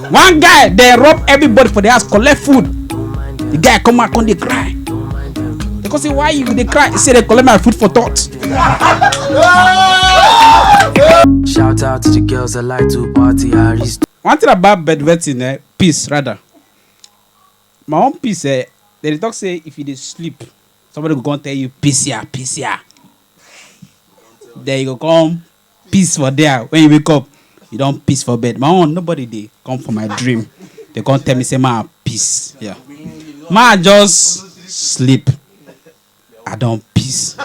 one guy dey rob everybody for the house collect food the guy come out come dey cry they come say why you dey cry he say they collect my food for thought. Shout out to the girls that like to party. I reach one thing about bedwetting eh peace rather my own peace eh dem dey talk say if you dey sleep somebody go come tell you peace ya peace ya then you go come Peace for there. When you wake up, you don peace for bed. My own, nobody dey come for my dream. They come tell me say ma peace. Yeah. Ma just sleep. I don peace.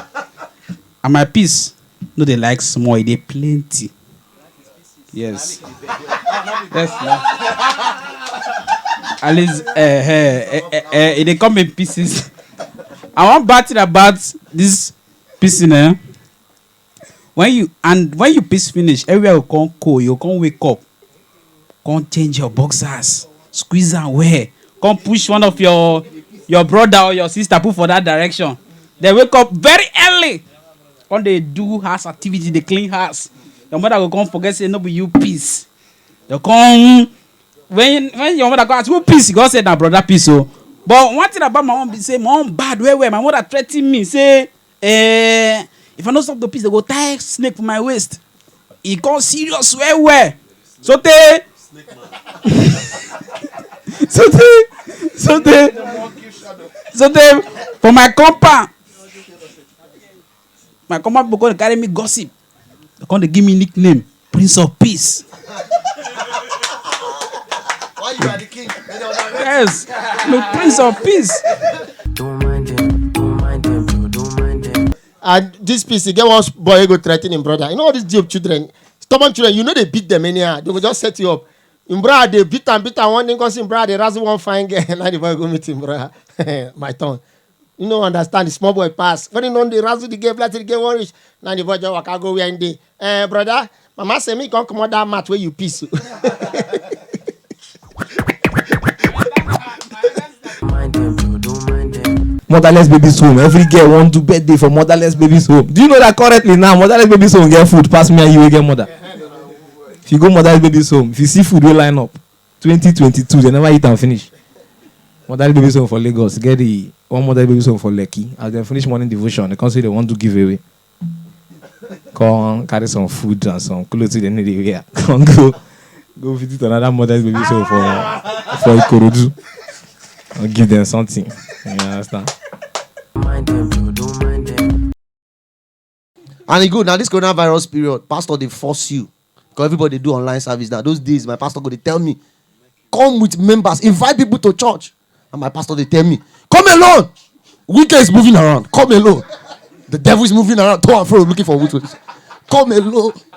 And my peace no dey like small, e dey plenty. Yes. Yes. na. At least eh eh eh eh, eh e dey come in pieces. And one bad thing about this pissing eh, When you and when you piss finish everywhere go come cold you go come wake up come change your boxers squeeze am well come push one of your your brother or your sister put for that direction then wake up very early come dey do house activity dey clean house your mother go come forget say no be you piss dey come when when your mother come ask who piss you go say na brother piss o but one thing about my mom be say my mom bad well well my mother threaten me say Eh, if I no stop to piss, they go tie snake for my waist. E come serious well well. So tey. so tey. So tey. So tey for my compound. My compound people come dey carry me gossip. They come dey give me nickname Prince of Peace. Why you are the king? They don't know. Yes, no Prince of Peace. Don't mind them, don't mind them, Joe, don't mind them. And this piece, he get one boy wey go threaten him brother. You know all these Job children, stubborn children, you know they beat them anyhow. They go just set you up. Him brother dey beat am, beat am. One day, cause him brother dey razzle one fine girl. Now the boy go meet him brother. My turn. you no understand the small boy pass when he don dey razzle the girl like say the girl wan reach na the boy just waka go where him dey eh brother mama say me come comot that mat wey you piss o. Mind them, Joe, don't mind them. motherless babies home every girl wan do birthday for motherless babies home do you know that currently now motherless babies home get food pass me and you wey get mother if you go motherless babies home if you see food wey line up twenty twenty two dem never eat am finish motherly baby song for lagos get the one motherly baby song for lekki as dem finish morning devotion dem come say dem wan do giveaway come carry some food and some clothes wey dem no dey wear come go go visit another motherly baby song for for ikorodu and give dem something you understand. and e good na this coronavirus period pastor dey force you because everybody dey do online service now those days my pastor go dey tell me come with members invite people to church and my pastor dey tell me come alone wicked is moving around come alone the devil is moving around to and fro looking for witches come alone